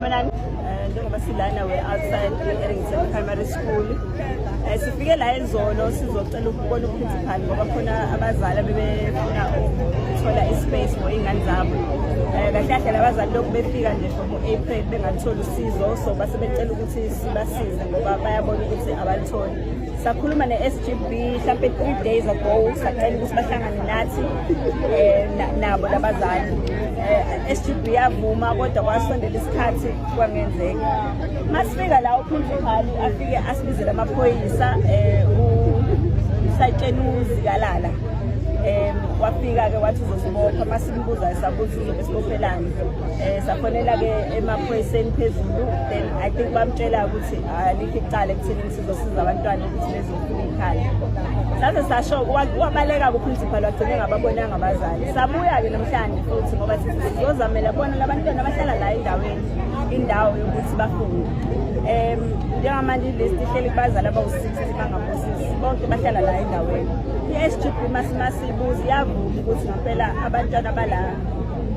Eh, njengoba silana we-outside e-errington primary school um sifike la ezolo sizocela ukubona uprincipal ngoba khona abazali abebefuna ukuthola ispace for iy'ngane zabo um eh, kahle kahle labazali lokhu befika nje from u-april bengalutholi usizo so basebecela ukuthi sibasize ngoba bayabona ukuthi abalutholi sakhuluma ne-sgb mhlampe three days ago sacela ukuthi bahlangane nathi um nabo labazali um eh, sgb yavuma kodwa kwasondela isikhathi kwangenzeka masifika la uphunzimali afike asibizele amaphoyisa um usayitshenuzi kalala um wafika-ke wathi uzosibopha uma simbuza sakuthi uzobe sibophelani um safonela-ke emaphoyiseni phezulu then i think bamtshela ukuthi alikho icala ekutheni zosiza abantwana ukuthi bezofuna ikhaya saze sasho wabaleka kuprincipal wagcine ngababonanga abazali sabuya-ke namhlanje futhi ngoba sizozamela bona labantwana bahlala la endaweni indawo yokuthi bafunde um njengamanje ilist ihleli kubazali abawu-sixty bangaphosisi bonke bahlala la endaweni i-s g b masimasibuzi yavuma ukuthi ngampela abantwana bala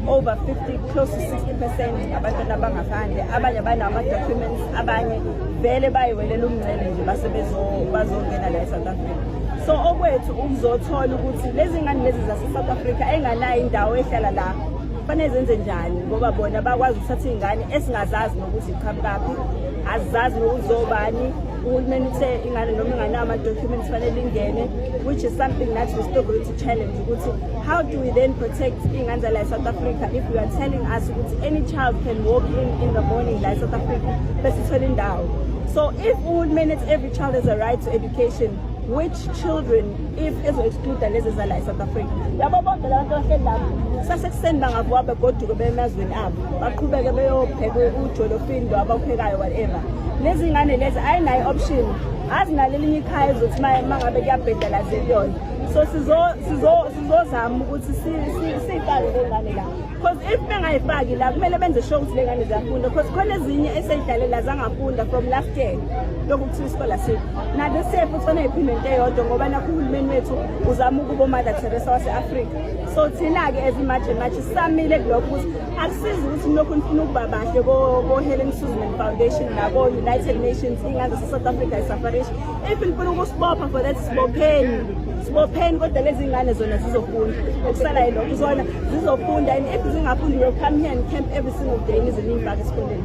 over 50 close to 60 percent abantwana abangaphandle abanye banawo ama-documents abanye vele bayiwelela umncele nje base bazongena la e-south africa so okwethu ukuzothola ukuthi lezi ngane lezi zase-south africa enganayo indawo ehlala la kufanele zenze njani ngoba bona bakwazi ukuthatha iy'ngane esingazazi nokuthi iqhamukaphi azizazi nokuthi zobani uhulumeni uthe ingane noma inganawo ama-documents fanele ingene which is something that we still going to challenge ukuthi how do we then protect iy'ngane zala south africa if you are telling us ukuthi any child can walk in in the morning la south africa besithole indawo so if uhulumeni ethi every child has a right to education which children if ezo-excluda lezi zala e-south africa labo bonke labantu abahleli lapho sasekuseni bangavuka begoduke bemazweni abo baqhubeke beyopheka ujolofini lo abawuphekayo whatever lezi ngane lezi ayinayo i-option azinalo elinye ikhaya ezothi uma ngabe kuyabhedala ziliyona so sizozama ukuthi siyifake lengane la because if bengayifaki la kumele benze sure ukuthi lengane ziyafunda because khona ezinye eseyidlalela zangafunda from last year lokhu kuthiwa isikole asikho nade siye futhi oneyiphinde into eyodwa ngoba nakho uhulumeni wethu uzama ukuba umother teresa wase-afrika so thina-ke as imaje maje sisamile kulokho ukuthi akusizi ukuthi nilokhu nifuna ukuba bahle ko-helen susan foundation nako-united nations ingane zase-south africa isafarish if ngifuna ukusibopha for that sibopheni sibopheni kodwa lezi ngane zona zizofunda okusala yilokho zona zizofunda and if zingafundi will come here and camp every single day nizinimbaka esikoleni